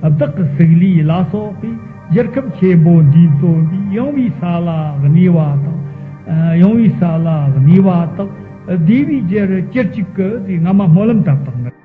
བདག་གི་གཟུགས་ལས་ལ་སོགས་པའི་གཞིར་ཁམས་ཆེན་པོ་འདིས་བརྩོན་པའི་གཡེང་བའི་ས་ལ་གནས་པ་དང། གཡེང་བའི་ས་ལ་གནས་པ་དག་བདེ་བའི་རྒྱུར་སྐྱེར་གཅིག་གི་སྔ་མ་སྨོན་ལམ་ལྟར་དང།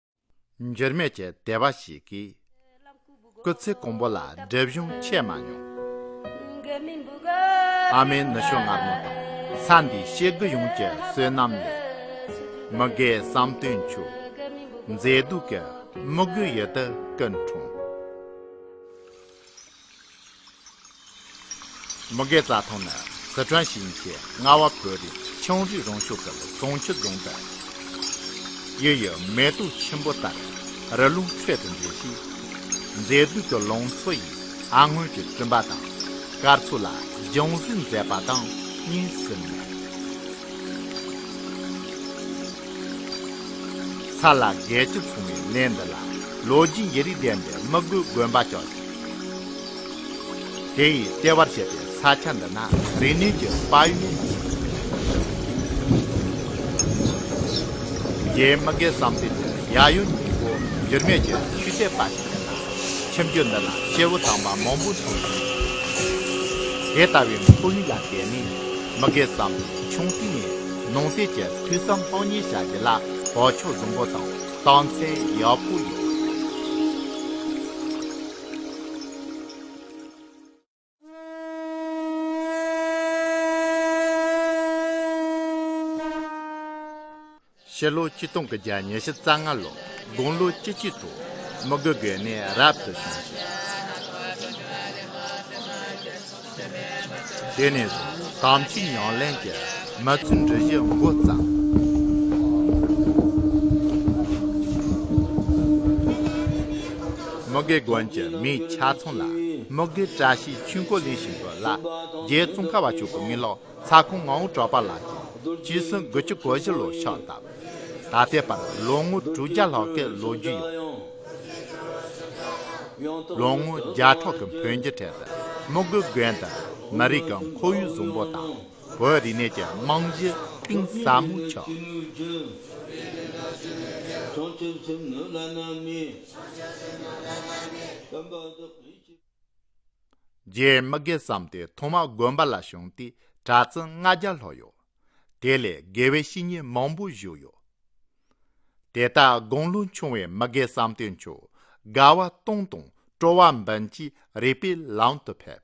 འགྱུར་མེད་ཀྱི་བདེ་བ་ཞིག་གིས། སྐུ་ཚེ་གོང་བོ་ལ་སྒྲིབ་གཞུང་ཆད་མ་མྱོང། ཨ་མའི་ནུ་ཞོ་མངར་མོ་དང་ས་འདིའི་གཤེགས་དགུ་ཡོངས་ཀྱི་བསོད་ནམས་ལས། མི་དགའི་བསམ་དོན་ཆུ་མཛོད་སྡུག་གི་དམུ་རྒོད་ཡུལ་དུ་ཀུན་འཁྲུངས། མུ་གེ་རྩ་ཐང་ནི་སི་ཁྲོན་ཞིང་ཆེན་རྔ་བ་བོད་རིགས་ཆུང་རིགས་རང་བྱུང་ཁུལ་ཟོང་ཆུ་རྫོང་དུ་ཡོད་ཡོད་མེ་ཏོག་ཆེན་པོ་ལྟར་རི་ཀླུང་ཁྲོད་དུ་འདྲེས་ཤིང། མཛེས་སྡུག་གི་ལང་ཚོ་ཡི་ཨ་སྔོན་གྱི་བཙུན་པ་དང་སྐར་ཚོགས་ལ་སྦྱང་གཟིགས་མཛད་པ་དང་གཉིས་སུ་མེད། ས་ལ་རྒས་ཀྱི་ཚོང་བའི་གནས་འདི་ལ་ལོ་རྒྱུས་ཡི་རིགས་ལྡན་པའི་མི་དགོས་དགོན་པ་བཅའ་ཞིང། དེ་ཡིས་ལྟེ་བར་བཤད་པའི་ས་ཆ་འདི་ན་རིག་ནུས་ཀྱི་དཔའ་ཡུལ་ནི། རྒྱའི་མི་སྒེར་བསམ་སྟེ་འདིར་ཡ་ཡོ་ཉིང་པོ་འགྱུར་མེད་ཀྱི་ཆུ་ཚད་དཔའ་ཞིག་ཡིན་ལ། ཁྱིམ་རྒྱུད་འདི་ལ་སྐྱེ་བོ་དྭངས་མ་མང་པོ་འཁྲུངས་ཤིང། དེ་ལྟ་བུའི་འཁོར་ཡུག་ལ་བརྟེན་ནས་མི་སྒེར་བསམ་པའི་ཆུང་དུས་ནས་ནང་བསྟན་གྱི་ཐོས་བསམ་ལྷང་ཉེན་བྱ་རྒྱུ་ལ་བག་ཆགས་བཟང་པོ་དང། ལྟང་ཚེ་ཡག་པོ་ཡོད། ཕྱི་ལོ་བཅུ་སྟོང་གི་བརྒྱ་ཉེར་བཞི་རྩ་ལྔ་ལོར་དགུང་ལོ་བཅུ་གཅིག་ཐོག་མི་དགོས་དགོས་གནས་རབ་ཏུ་བྱུང་ཞིང། དེ་ནས་བཟུང་དམ་ཚིག་ཉམས་ལེན་གྱི་མ་ཚུལ་འབྲི་བཞི་མགོ་བརྩམས། དམུ་དགེ་དགོན་གྱི་མིའི་ཆ་ཚང་ལ་དམུ་དགེ་བཀྲ་ཤིས་ཆོས་འཁོར་ལེན་བཞིན་དུ་ལ་རྒྱའི་ཙོང་ཁ་བ་མཆོག་གི་མཎྜལ། ཚ་ཁུང་ངའོ་གྲོགས་པ་ལགས་ཀྱིས་སྤྱི་ཟུང་དགུ་བཅུ་གོ་བཞི་ལོ་ཤོག་བཏབ། ད་ལྟའི་བར་ལོ་ངོ་དྲུག་བརྒྱ་ལྷག་གི་ལོ་རྒྱུས་ཡོད། ལོ་ངོ་བརྒྱ་ཕྲག་གི་བོན་གྱི་གྲལ་དུ་མི་དགུ་དགོན་དུ་མི་རིགས་ཀྱི་འཁོར་ཡུག་བཟང་པོ་དང་བོད་རིག་གནས་ཀྱི་རྨང་གཞི་གཏིང་ཟབ་མོ་ཕྱོགས། རྗེ་དམིགས་དགེ་བསམ་སྟེ་ཐོག་མར་དགོན་པ་ལ་བྱོན་ཏེ་གྲྭ་བཙུན་ལྔ་བརྒྱ་ལྷག་ཡོད། དེ་ལས་དགེ་བའི་བཤེས་གཉེན་མང་པོ་བཞུགས་ཡོད། དེ་ལྟར་དགུང་ལོ་ཆུང་བའི་དམིགས་དགེ་བསམ་སྟེ་མཆོད་དགའ་བ་སྟོང་དང་སྤྲོ་བ་འབུམ་གྱིས་རིག་པའི་ལམ་དུ་ཕེབས།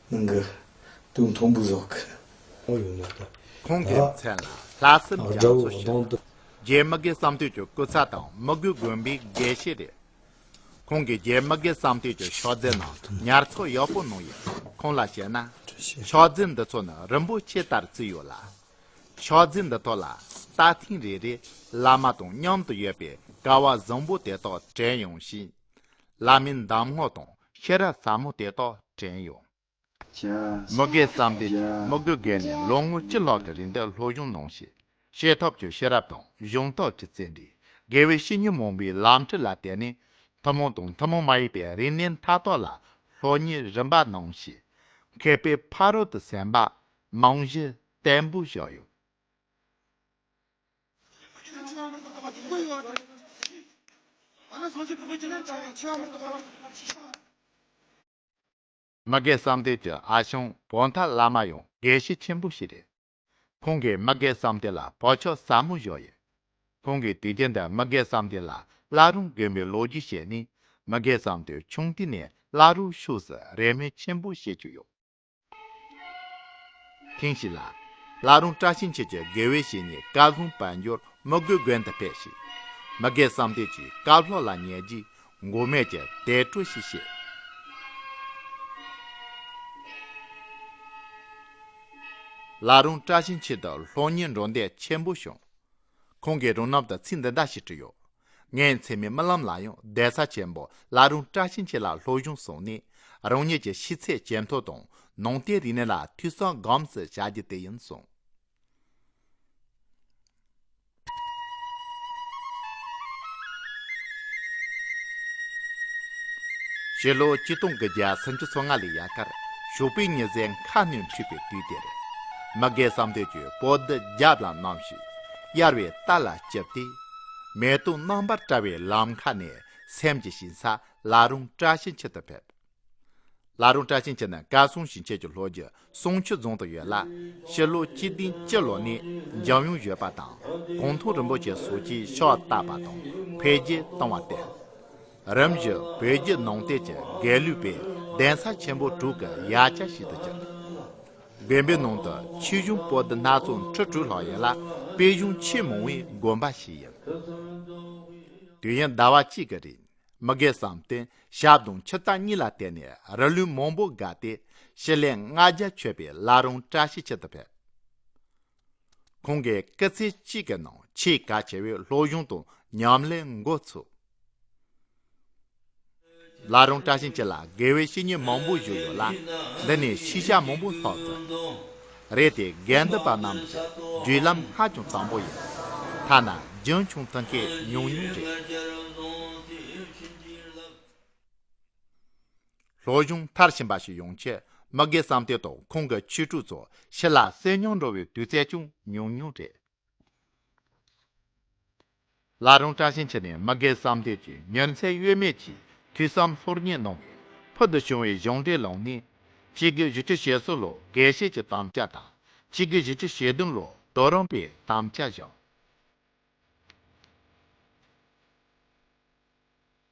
ནང་གི་དུག་མཐོང་བུ་ཟོག་གི། ཁོང་གི་མཚན་ལ་ལྷ་སྲིན་རྒྱ་མཚོ་ཞེས་ལ། རྒྱའི་མི་དགེ་བསམ་སྟོད་ཀྱི་སྐུ་ཚ་དང་མི་དགོས་དགོན་པའི་དགེ་བཤེས་རེད། ཁོང་གིས་རྒྱའི་མི་དགེ་བསམ་སྟོད་ཀྱི་ཕྱག་རྫས་ནང་ཉར་ཚགས་ཡག་པོ་གནང་ཡོད་ཁོང་ལ་བཤད་ན། ཕྱག་རྫས་འདི་ཚོ་ནི་རིན་པོ་ཆེ་ལྟར་བརྩིས་ཡོད་ལ། ཕྱག་རྫས་འདི་དག་ལ་ད་ཐེངས་རེ་རེ་བླ་མ་དང་མཉམ་དུ་ཡོད་པའི་ཀ་བ་བཟང་པོ་དེ་དག་དྲན་ཡོང་ཞིང། བླ་མའི་འདམ་ངོགས་དང་ཤེས་རབ་ཟབ་མོ་དེ་དག་དྲན་ཡོང། མི་དགེ་བསམ་འཕེལ་གྱིས་དམིགས་རྡུལ་བརྒལ་ནས་ལོ་ངོ་བཅུ་ལྷག་གི་རིང་དུ་ལྷོ་གཞུང་ནང་བཞིན་ཤེས་ཐོབ་ཀྱི་ཤེས་རབ་དང་གཞུང་རྟོགས་ཀྱི་རྩལ་འདིས་དགེ་བའི་བཤེས་གཉེན་མང་པོའི་ལམ་ཁྲིད་ལ་བརྟེན་ནས་ཐུན་མོང་དང་ཐུན་མོང་མ་ཡིན་པའི་རིག་གནས་མཐའ་དག་ལ་ལྷོ་གཉིས་རིམ་པ་ནང་བཞིན་མཁས་པའི་ཕ་རོལ་ཏུ་སེམས་པ་རྨང་གཞི་བརྟན་པོ་བཞག་ཡོད། མི་དགེ་བསམ་སྡེ་གྱི་ཨ་ཞང་བོ་མཐའ་བླ་མ་ཡང་དགེ་བཤེས་ཆེན་པོ་ཞིག་རེད། ཁོང་གིས་མི་དགེ་བསམ་སྡེ་ལ་བོད་ཆོས་ཟབ་མོ་བཞག་ཡོད། ཁོང་གིས་དུས་རྒྱུན་དུ་མི་དགེ་བསམ་སྡེ་ལ་བླ་རུང་དགོན་པའི་ལོ་རྒྱུས་བཤད་ནས་མི་དགེ་བསམ་སྡེ་ཆུང་དུས་ནས་བླ་རུང་ཕྱོགས་སུ་རེ་སྨོན་ཆེན་པོ་བྱེད་ཀྱི་ཡོད། ཐེངས་ཤིག་ལ། ལྷ་རོང་བཀྲ་ཤིས་འཁྱིལ་གྱིས་དགེ་བའི་བཤེས་གཉེན་བཀའ་ལྷུན་དཔལ་འབྱོར་མི་དགོས་དགོན་དུ་ཕེབས་ཤིག། མི་དགེ་བསམ་སྟེ་ཅིག་བཀའ་ལྷོག་ལ་ཉལ་རྗེས་མགོ་སྨད་ཀྱི་དལ་བཀྲོལ་ཞིག་བྱས། ལྷ་རོང་བཀྲ་ཤིས་འཁྱིལ་དུ་ལྷོ་གཉེར་འགྲོ་འདོད་ཆེན་པོ་བྱུང། ཁོང་གིས་རོང་ནབ་དང་ཚིག་འདི་འདྲ་ཞིག་བྲིས་ཡོད། ངའི་མཚན་མོའི་རྨི་ལམ་ལ་ཡང་བདེ་རྩ་ཆེན་པོ་བླ་རུང་བཀྲ་ཤིས་འཁྱིལ་ལ་ལྷོ་གཞུང་སོགས་ནས་རང་ཉིད་ཀྱི་ཤི་ཚད་ཇེ་མཐོ་དང་ནང་བསྟན་རིག་གནས་ལ་འཐུས་ཚང་སྒོམ་ཟེར་བྱ་རྒྱུ་དེ་ཡིན་གསུངས། ཕྱི་ལོ་སྤྱི་སྟོང་དགུ་བརྒྱ་སུམ་ཅུ་སོ་ལྔ་ལོའི་ཡ་གར་ཞོགས་པའི་ཉི་ཟེར་མཁའ་སྣོད་འཁྲིགས་པའི་དུས་དེར། མི་དགེ་བསམ་དོན་གྱི་པོ་ཏི་རྒྱབ་ལ་བསྣམས། གཡར་བའི་རྟ་ལ་བཅིབས་ཏེ། མེ་ཏོག་རྣམ་པར་བཀྲ་བའི་ལམ་མཁའ་ནས་སེམས་ཀྱི་ཞིང་ས་བླ་རུང་བཀྲ་ཤིས་འཁྱིལ་དུ་ཕེབས། བླ་རུང་བཀྲ་ཤིས་འཁྱིལ་ནི་བཀའ་སྲུང་ཞིང་ཆེན་གྱི་ལྷོ་རྒྱུད་ཟུང་ཆུ་རྫོང་དུ་ཡོད་ལ། ཕྱི་ལོ་སྤྱི་ལྡིང་སྤྱི་ལོ་ནས་འཇམ་དབྱངས་བཞད་པ་དང་གུང་ཐུང་རིན་པོ་ཆེ་སོགས་ཀྱིས་ཕྱོགས་བཏབ་པ་དང་འཕེལ་རྒྱས་བཏང་བ་སྟེ། རིམ་བཞིན་བོད་རྒྱུད་ནང་བསྟན་གྱི་རྒྱལ་གླུའི་པའི་གདན་ས་ཆེན་པོ་དྲུག་གི་ཡ་གྱལ་ཞིག་ཏུ་གྱུར། དགོན་པའི་ནང་དུ་ཆོས་གཞུང་པོ་ཏི་སྣ་ཚོགས་ཁྲི་དྲུག་ལྷག་ཡོད་ལ་དཔེ་གཞུང་ཆེས་མང་བའི་དགོན་པ་ཞིག་ཡིན། དུས་ཡུན་ཟླ་བ་གཅིག་གི་རིང་མི་དགེ་བསམ་གཏན་ཞབས་དང་ཕྱི་རྟགས་གཉིས་ལ་བརྟེན་ནས་རི་ལུས་མང་པོ་བརྒལ་ཏེ་ཞི་ལས་ལྔ་བརྒྱ་ཆོད་པའི་བླ་རུང་བཀྲ་ཤིས་འཁྱིལ་དུ་ཕེབས། ཁོང་གིས་སྐུ་ཚེ་གཅིག་གི་ནང་ཆེས་གལ་ཆེ་བའི་སློབ་སྦྱོང་དང་ཉམས་ལེན་འགོ་ཚུགས། ལ་རང་བཀྲ་ཤིས་འཁྱིལ་ལ་དགེ་བའི་བཤེས་གཉེན་མང་པོ་བཞུགས་ཡོད་ལ། འདི་ནས་ཤེས་བྱ་མང་པོ་ལྷག་ཙམ་རེད་དེ་དགེ་འདུན་པ་རྣམས་ཀྱི་བརྒྱུད་ལམ་ཧ་ཅང་བཟང་པོ་ཡིན། ཐ་ན་རྒྱུན་འཁྱོངས་ཐུབ་མཁན་ཉུང་ཉུང་རེད། ལྷོ་གཞུང་མཐར་ཕྱིན་པ་ཞིག་ཡོང་ཆེད་མི་དགེ་བསམ་གཏན་དང་ཁོང་གི་ཁྱི་ཕྲུག་ཚོ་ཕྱི་ལ་གསོད་རྙོག་འགྲོ་བའི་དུས་ཚད་ཅུང་ཉུང་ཉུང་རེད། ལ་རོང་བཀྲ་ཤིས་འཁྱིལ་ནས་མི་དགེ་བསམ་གཏན་གྱི་མྱུར་ཚད་གཡོལ་མེད་ཀྱིས་དུས་བསམ་ལྷོར་བསྙེགས་གནང་བས་ཕུལ་དུ་བྱུང་བའི་གཞུང་འབྲེལ་ལོ་ལྔའི། སྤྱི་སྒེར་བཞི་བཅུ་ཞེ་སོ་ལོ་དགེ་བཤེས་ཀྱི་དམ་བཅའ་དང་སྤྱི་སྒེར་བཞི་བཅུ་ཞེ་བདུན་ལོ་དོ་རོང་པའི་དམ་བཅའ་བཞག།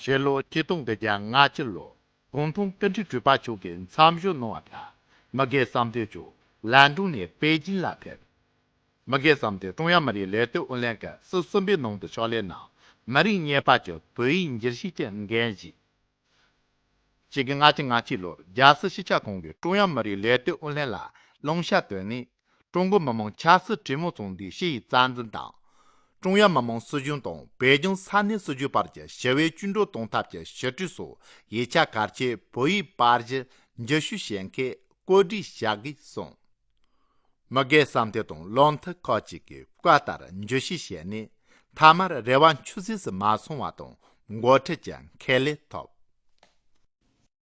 ཕྱི་ལོ་སྐྱིད་སྟོང་དང་གྱ་ལྔ་སྤྱི་ལོ་ཀོང་ཏུང་བཀའ་ཁྲི་སྤྲུལ་པ་མཆོག་གིས་མཚམས་ཞུགས་གནང་བ་ལྟར་མི་སྒེར་བསམ་འདུན་ཅུའུ་ལན་ཀྲུང་ནས་པེ་ཅིན་ལ་ཕེབས། མི་སྒེར་བསམ་འདུན་ཀྲུང་དབྱང་མི་རིགས་ལས་དོན་ཨུ་ལྷན་སྐབས་སོ་གསུམ་པའི་ནང་དུ་ཕྱོགས་ལས་གནང་མི་རིགས་གཉིས་བར་གྱི་བོད་ཡིག་འགྱུར་ཞིབ་ཀྱི་འགན་བཞེས། གཅིག་གྱ་ལྔ་སྤྱི་ལོར་རྒྱལ་སྲིད་སྤྱི་ཁྱབ་ཁང་གིས་ཀྲུང་དབྱང་མི་རིགས་ལས་དོན་ཨུ་ལྷན་ལ་བླང་བྱ་བཏོན་ནས། ཀྲུང་གོ་མི་དམངས་ཆབ་སྲིད་གྲོས་མོལ་ཚོགས་འདུའི་ཕྱི་ཡི་རྩ་འཛིན་དང། ཀྲུང་དབྱང་མི་དམངས་སྲིད་གཞུང་དང་བོད་ལྗོངས་ས་གནས་སྲིད་གཞུང་བར་གྱི་ཞི་བའི་བཅུད་འགྲོ་གཏོང་ཐབས་ཀྱི་ཞི་ཁྲོའི་སོགས་ཡིག་ཆ་གལ་ཆེ་བོད་ཡིག་དཔར་གཞི་འགྱུར་ཞུ་བྱེད་མཁན་བཀོད་སྒྲིག་བྱ་དགོས་གསུངས། མི་སྒེར་བསམ་འདུན་དང་བློ་མཐུན་ཁག་ཅིག་གིས་བཀའ་ལྟར་འགྱུར་ཞུ་བྱས་ནས་མཐའ་མར་རེ་བ་འཆུག་ཟིག་ཟིག་མ་སོང་བ་དང་མགོ་ཁྲིད་ཀྱི་ཁས་ལེན་ཐོབ།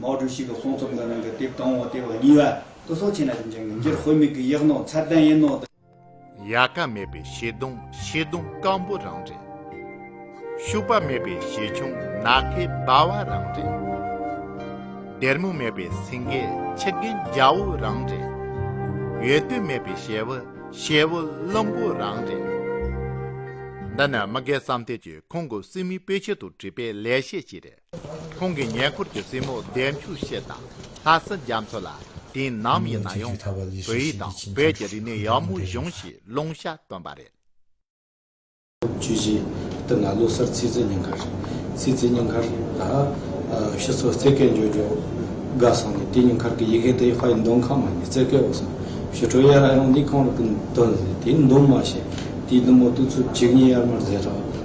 མའོ་ཀྲུའུ་ཞི་གི་དཔུང་ཚོགས་འདི་རང་གི་དེབ་དང་བོ་སྟེ་བ་གཉིས་བ་དུ་སོགས་ཆེ་ན་ཅུང་ཅན་གྱི་འགྱུར་དཔེ་མིག་གི་ཡིག་ནོར་ཚད་ལྡན་ཡིན་ནོ། ཡལ་ག་མེད་པའི་བྱེ་གདུང་བྱེ་གདུང་སྐམ་པོ་རང་རེད། ཤུག་པ་མེད་པའི་བྱེ་ཆུང་ནག་ཁའི་སྦ་བ་རང་རེད། སྡེར་མོ་མེད་པའི་སེང་གེ་ཆི་རྒན་རྒྱ་བོ་རང་རེད། ཡོལ་དུས་མེད་པའི་ཞལ་བུ་ཞལ་བུ་བླུན་པོ་རང་རེད། འདི་ནི་མི་སྒེར་བསམ་སྟེ་ཀྱིས་ཁོང་གི་སྲིང་མོའི་དཔེ་ཆེད་དུ་བྲིས་པའི་ལེགས་བཤད་ཅིག་རེད། ཁོང་གི་ཉེ་འཁོར་གྱི་སྲས་མོ་བདེ་མཆོག་ཤེས་དང་ལྷ་སྲིན་རྒྱ་མཚོ་ལ་དེ་ནམ་ཡིན་ན་ཡང་བོད་ཡིག་དང་བོད་ཀྱི་རིག་གནས་ཡག་མོ་གཞུང་ཞེས་ལུང་ཤ་བཏོན་པ་རེད། བཅུ་བཞི་དུ་ང་ལོ་གསར་ཚེས་བརྩི་སྙིང་ཁར། ཚེས་བརྩི་སྙིང་ཁར་ལ། ཤི་ཚོ་རྩེ་སྐད་འཇོ་འཇོ། དགའ་སོང་ནས་དེ་སྙིང་ཁར་གྱི་ཡི་གེ་དེ་ཧྥ་ཡི་མདུང་ཁང་མ་ནས་རྩེ་སྐད་འོག་སོང་ཞུ་ཁྲོ་གཡས་ར་ཡོང་འདི་གང་རུ་གི་མདུན་ཟེར་དེའི་མདུང་མ་ཞེས་དེའི་མདུང་མོ་གཏུགས་ཚུབ་གཅིག་གཉིས་ཡར་མར་བཟེད་རོགས།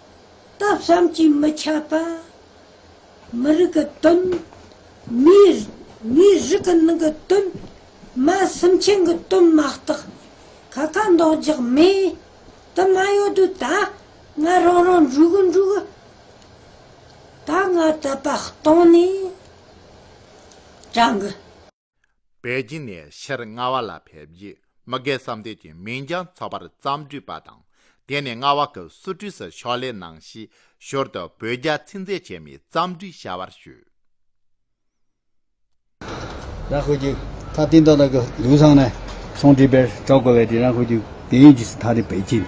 སྟག་བཤམས་ཀྱིས་མི་ཁྱབ་པ། མི་རིགས་ཀྱི་དོན། མིའི་རིགས་ཀྱི་ནང་གི་དོན། མ་སེམས་ཅན་གྱི་དོན་མ་གཏོགས། ཁ་ཁ་འདོགས་རྒྱག་མེད། དུ་མ་ཡོད་དུས་ད་ང་རང་རང་འགྲུག་གི་འགྲུག། ད་ང་དད་པ་གཏོང་ནས་དྲང། པེ་ཅིན་ནས་ཕྱིར་རྔ་བ་ལ་ཕེབས་རྗེས་མི་སྒེར་བསམ་སྡེབས་ཀྱི་མིང་བྱང་ཚོགས་པར་བརྩམས་བསྒྲིགས་པ་དང་དེ་ནས་རྔ་བ་ཁུལ་སུ་ཀྲི་སི་ཕྱོགས་ལས་གནང་གཞིས་བཞུར་དུ་བོད་རྒྱ་ཚིག་མཛོད་ཆེན་མོའི་བརྩམས་བསྒྲིགས་བྱ་བར་ཞུས། རང་ཁུལ་གྱི་ཐག་བསྟེན་རྡོ་ལག་གི་ལུས་ཚང་ནས་ཚོང་འབྲེལ་པས་གྲོགས་བསྐོ་བའི་དེ་རང་ཁུལ་གྱི་དེ་ཡིན་གྱི་སི་ཐ་རི་པེ་ཅིན།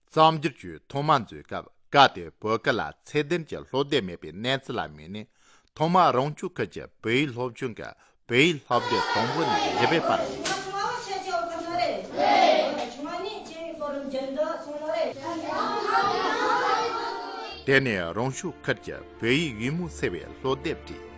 གཙང་སྒྱུར་བཅོས་ཐོག་མ་མཛོད་སྐབས་བཀའ་སྡོད་བོད་སྐད་ལ་ཚད་ལྡན་གྱི་ལྷོ་སྡེ་མེད་པའི་གནས་ཚུལ་ལ་དམིགས་ནས་ཐོག་མར་རང་སྐྱོང་ཁུལ་གྱི་བོད་ཡིག་སློབ་ཆུང་གི་བོད་ཡིག་ལྷག་སྡེ་དང་པོ་ནས་བཞི་པའི་བར་ཡིན། དེ་ནས་རང་སྐྱོང་ཁུལ་གྱི་བོད་ཡིག་ཡུལ་མོ་ཟེར་བའི་ལྷོ་སྡེར་བྲིས།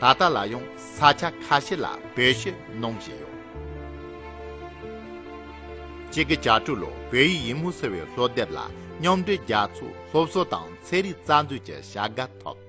ད་ལྟ་ལ་ཡང་ས་ཆ་ཁ་ཤས་ལ་བོད་གཞས་གནང་བཞིན་ཡོད། གཅིག་གི་གྱ་དྲུག་ལོར་བོད་ཡིག་ཡིན་མུ་ཟེར་བའི་ལྷོ་དེབ་ལ་མཉམ་འབྲེལ་རྒྱ་མཚོ་སློབ་གསོ་དང་ཚན་རིག་རྩ་འཛུགས་ཀྱི་བྱ་དགའ་ཐོབ།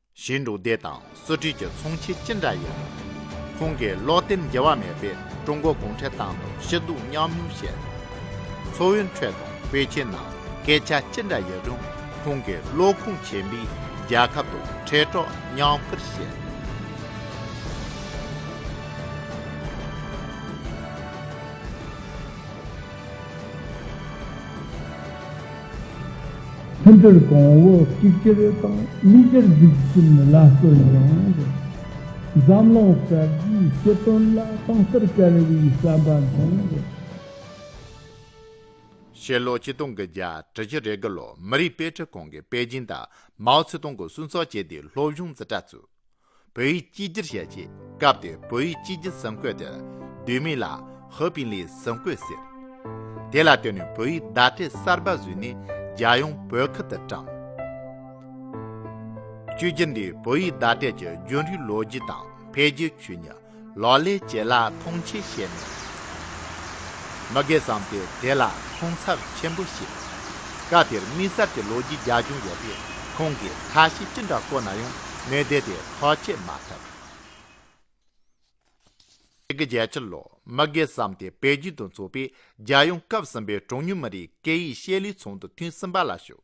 ཞེས་འབྲུག་སྡེ་དང་གསོ་སྤྲུལ་གྱི་ཚོང་ཆས་ཅི་འདྲ་ཡིན་རུང། ཁོང་གིས་ལོག་བསྟེན་འགྱེལ་བ་མེད་པའི་ཀྲུང་གོ་གུང་ཁྲན་ཏང་དང་ཞི་འདུག་མཉམ་མྱོང་བྱས་ཡོད། མཚོ་བོད་ཁྲོད་དང་དཔལ་ཆེན་ནང་སྐད་ཆ་ཅི་འདྲ་ཡིན་རུང་ཁོང་གིས་བློ་ཁུངས་ཆེན་པོས་རྒྱལ་ཁབ་དང་ཁྲེལ་གྲོགས་མཉམ་སྤེལ་བྱས། མཐུན་སྒྲིལ་གོང་འོག་གཅིག་གྱུར་དང་དམིགས་བསལ་འཛུགས་སྐྲུན་ལ་བརྩོན་ཡོང་དགོས། འཛམ་གླིང་གསར་བརྗེའི་སྤྱི་དོན་ལ་དྭངས་གསལ་དཀར་བའི་བསམ་པ་འདོན་དགོས། ཕྱི་ལོ་ཆིག་སྟོང་གི་བརྒྱད་ཁྲི་བཞི་རེ་དགུ་ལོར་མི་རིགས་དཔེ་ཁྲིད་ཁང་གིས་པེ་ཅིན་དང་མའོ་ཙེ་ཏུང་གི་གསུང་ཚགས་བཅས་དེའི་སློབ་སྦྱོང་རྩིས་ཁྲ་བཙུགས། བོད་ཡིག་གཅིག་གྱུར་བྱས་རྗེས་སྐབས་དེར་བོད་ཡིག་གཅིག་གྱུར་ཟམ་བཀོད་དེར་བསྡུས་མིང་ལ་ཧོ་པིན་ལིའི་ཟམ་བཀོད་ཟེར། དེ་ལ་བརྟེན་ནས་བོད་ཡིག་བརྡ་སྤྲད་གསར་པ་བཟོས་ནས་རྒྱལ་ཡོངས་བོད་ཁུལ་དུ་བཀྲམ། བཅོས་སྒྱུར་འདིས་བོད་ཡིག་བརྡ་སྤྲད་ཀྱི་རྒྱུན་རིང་ལོ་རྒྱུས་དང་འཕེལ་རྒྱས་ཆོས་ཉིད། ལོག་ལས་བྱེད་ལ་ཐོངས་མཆི་བཤད་ནས། མི་དགེ་བསམ་པས་དེ་ལ་ཐོངས་ཚབས་ཆེན་པོ་བྱས། སྐབས་དེར་དམིགས་བསལ་གྱི་ལོ་རྒྱུས་རྒྱ་ཆུང་ཡོད་པས་ཁོང་གིས་ཁ་ཞེ་ཅི་འདྲ་བཀོད་ན་ཡང་གནས་དེ་དེ་ཐག་བཅད་མ་ཐུབ། དེ་གི་རྒྱལ་ཕྱིར་ལོ་མི་དགེ་བསམ་དེ་བལ་རྒྱུད་དུ་འཚོགས་པའི་རྒྱལ་ཡོངས་སྐབས་གསུམ་པའི་གྲངས་ཉུང་མི་རིགས་སྐད་ཡིག་བཤད་ལུས་ཚོགས་འདུ་ཐེངས་གསུམ་པ་ལ་ཞུགས།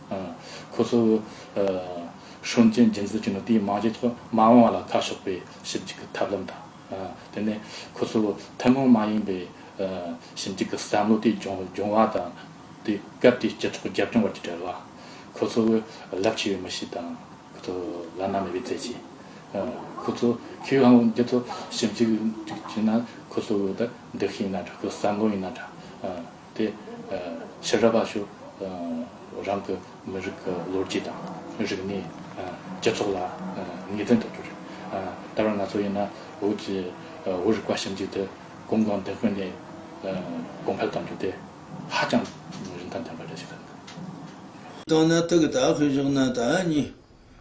ཁོ་ཚོས་ཧྲུན་ཅན་རྒྱུན་འཛིན་བྱས་ནས་དེའི་རྨང་གཞིའི་ཐོག་མ་འོངས་བ་ལ་ཁ་ཕྱོགས་པའི་ཞིབ་འཇུག་གི་ཐབས་ལམ་དང། དེ་ནས་ཁོ་ཚོས་ཐུན་མོང་མ་ཡིན་པའི་ཞིབ་འཇུག་གི་བསམ་བློ་དེ་སྦྱོང་བ་དང། དེས་སྐབས་དེའི་སྤྱི་ཚོགས་རྒྱབ་ལྗོངས་བར་གྱི་འབྲེལ་བ། ཁོ་ཚོས་རླབས་ཆེ་བའི་མི་གཤིས་དང། ཁོ་ཚོས་བླ་ན་མེད་པའི་རྩལ་ཆེན། ཁོ་ཚོས་ཁེ་བའང་འདི་ཚོ་ཞིབ་འཇུག་བྱས་ན་ཁོ་ཚོའི་འདུ་ཤེས་ཡིན་ན་འདྲ་ཁོ་ཚོའི་བསམ་བློ་ཡིན་ན་འདྲ། དེ་ཕྱི་རབས་པ་ཞིག་རང་གི་མི་རིགས་ཀྱི་ལོ་རྒྱུས་དང་རིག་གནས། སྤྱི་ཚོགས་ལ་ངེས་དོན་དུ་གྱུར། ད་བར་ང་ཚོ་ཡིན་ན་བོད་ཀྱི་བོད་རིག་པ་ཞིབ་འཇུག་དེ་གོམ་གང་མདུན་སྤོས་ནས་གོང་འཕེལ་གཏོང་རྒྱུ་དེ་ཧ་ཅང་རིན་ཐང་ལྡན་པ་རེད་ཞེས་བསམ་ཡོད། དང་ནང་ཐུག་དག་ཤོས་ཤོག་ནང་དག་གཉིས།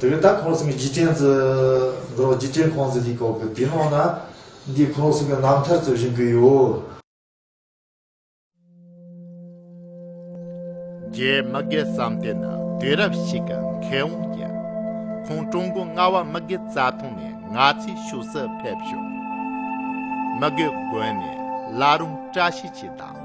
དེ་བས་ད་ཁོང་གསུམ་གྱི་རྗེས་དྲན་ཚེ་འདི་རོགས་རྗེས་དྲན་ཁོང་ཚེ་ལྷིག་ཁོག་གི་དེ་ནང་ན་འདི་ཁོང་གསུམ་གྱི་རྣམ་ཐར་རྩོད་བཞིན་གི་ཡོད། རྗེས་མ་དགེ་བསམ་སྟེ་ནི་དུས་རབས་ཤིག་གི་མཁས་དབང་ཡིན། ཁོང་ཀྲུང་གོའི་རྔ་བ་མི་དགེ་རྩ་ཐང་ནས་ང་ཚོའི་ཕྱོགས་སུ་ཕེབས་བྱུང། མི་དགེ་དགོན་ནས་བླ་རུང་བཀྲ་ཤིས་ཀྱིས་དང།